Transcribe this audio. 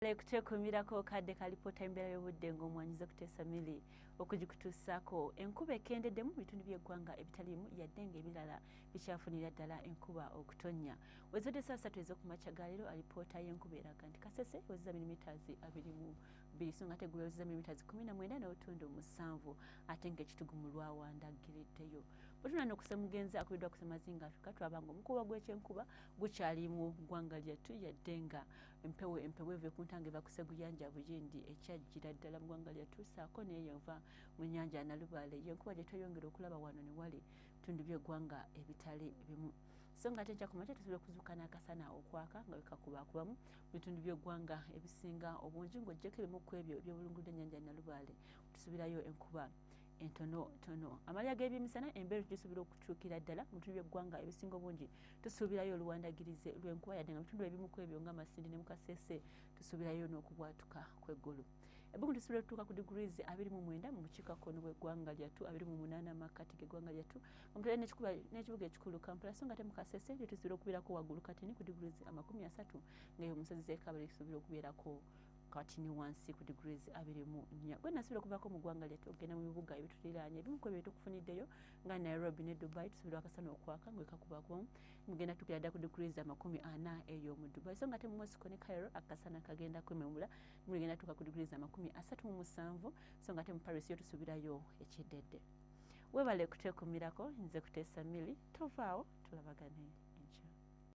Lale kuteekumirako kadde kalipoota embeera y'obudde ng'omwanyiza okuteesa mili okugikutuusaako enkuba ekendedde mu bitundu by'eggwanga ebitaliimu yadde ng'ebirala bikyafunira ddala enkuba okutonnya wezibadde saa satu ez'okumakya ga leero alipoota y'enkuba eraga nti kasese wezeza milimitaazi abiri mu bbiri so nga tegula wezeza milimitaazi kumi na mwenda n'obutundu musanvu ate ng'ekitugu mu lwawanda giriddeyo bwetuna n'okusa mugenzi akubiddwa kusemazinga afrika twabanga omukuba gw'ekyenkuba gukyali mu ggwanga lyattu yadde nga empewo empewo eve ku ntanga eva kuseguyanja buyindi ekyajjira ddala mu ggwanga lyattu saako neeyo eva mu nyanja nalubaale yenkuba gye tweyongera okulaba wano ne wali bitundu by'eggwanga ebitali bimu so nga ate nkya ku makya tusobola okuzuuka n'akasana okwaka nga wekakubakubamu mu bitundu by'eggwanga ebisinga obungi ng'oggyeko ebimu ku ebyo ebyobulungudde ennyanja nalubaale tusuubirayo enkuba entono tono amalya g'ebyemisana embeera tugisubira okukyukira ddala mu bitundu by'eggwanga ebisinga obungi tusuubirayo oluwandagirize lw'enkuba yadde nga mu bitundu ebimu ku ebyo nga masindi ne mukaseese tusuubirayo n'okubwatuka kw'eggulu ebbugumu tusuubira okutuuka ku degrees abiri mu mwenda mu bukiikakkono bw'eggwanga lyattu abiri mu munaana mu makkati g'eggwanga lyattu omutale n'ekibuga ekikulu kampala so nga te mukaseese lyo tusuubira okubeerako waggulu katini ku degrees amakumi asatu ngaeyo omusozi z'ekabale tusuubira okubeerako kati ne wansi ku degrees abiri mu nnya gwe nasobola okuvaako mu ggwanga lyettu okugenda mu bibuga ebituliraanye ebimu ku ebyo tukufuniddeyo nga nairobi ne dubai tusobola akasana okwaka nga ekakubaku mugenda tugera dda ku degrees amakumi ana eyo mu dubai so nga te mu mosco ne cairo akasana kagenda kwememula muligenda tuuka ku degrees amakumi asatu mu musanvu so nga te mu paris yo tusuubirayo ekiddedde webale kuteekumirako nze kuteesa mili tovaawo tulabagane